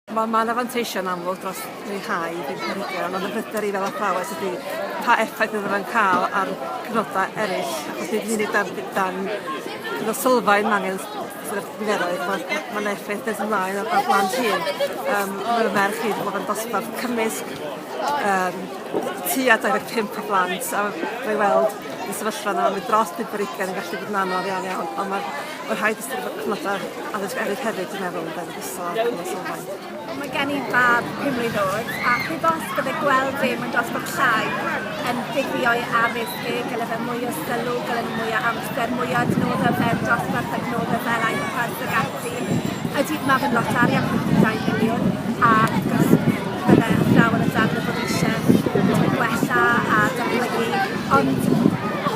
Wel mae 'na fanteision amlwg dros leihau budd planhigion ond y pryder i fel athrawes ydi pa effaith fydde fe'n ca'l ar cyfnoda eryll achos nid yn unig dan d- dan cyfnod sylfaen ma' angen s- sort of niferoedd ma' ma' ma' 'na effaith nes ymlaen ar ar blant hŷn. Yym ma' fy merch i 'di bod yn dosbarth cymysg yym tua dau ddeg pump o blant a ma' i weld y sefyllfa yna ma' dros bump ar ugain yn gallu bod yn anodd iawn iawn on' ma' ma' rhaid ystyr fod cyfnoda addysg eryll hefyd dwi'n meddwl ynde? isod yn y sylfaen. Mae gen i fab pum mlwydd oed, a heb os bydde gweld dim yn dosbarth llai yn ddiddio'i addysg e, gyda fe mwy o sylw, gyda ni mwy o amser, mwy o adnoddau o fewn dosbarth, adnoddau fel iPads ac ati. Ydy, mae fe'n lot arian, 52 miliwn, a wrth gwrs bydde athrawon a darllen bod eisiau gwella a datblygu, ond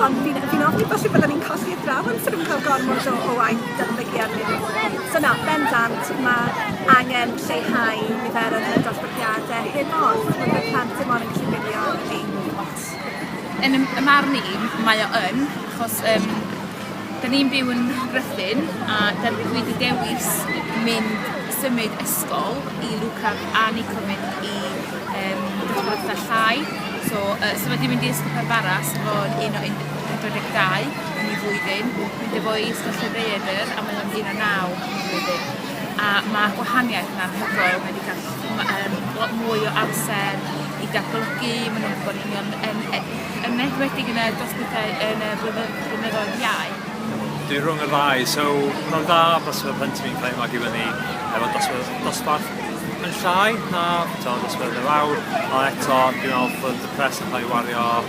ond fi'n fi ofni falle byddwn ni'n colli athrawon sydd yn cael gormod o, o waith datblygu arnyn nhw. So na, bendant, mae angen lleihau niferoedd yn y dosbarthiadau hyn ond mae bod plant ddim ond yn gallu gwylio yr un lot. Yn y y marn i, mae o yn, achos um, da ni'n byw yn Rhythyn a da, dwi wedi dewis mynd symud ysgol i Luca a Nico mynd i um, dosbarthiadau llai. So, uh, so wedi mynd i ysgol Parfaras, ro'n un o 42 yn ei flwyddyn, mynd â fo i Ystafelloedd Ddaear a mae o'n un a naw yn ei flwyddyn. A ma' gwahaniaeth yn anhygoel, mae 'di ca'l m- yym lot mwy o amser i ga'l golygu, ma' nw'n gwbod union yn e- yn enwedig yn y dros pethe yn y blynyddoedd blynyddoedd iau. Dwi rhwng y ddau so ma' nw'n dda achos fel plentyn fi'n cael ei magu fyny efo dosbarth dosbarth yn llai na t'o' dosbarth yr awr a eto dwi'n me'wl bod y pres yn ca'l ei wario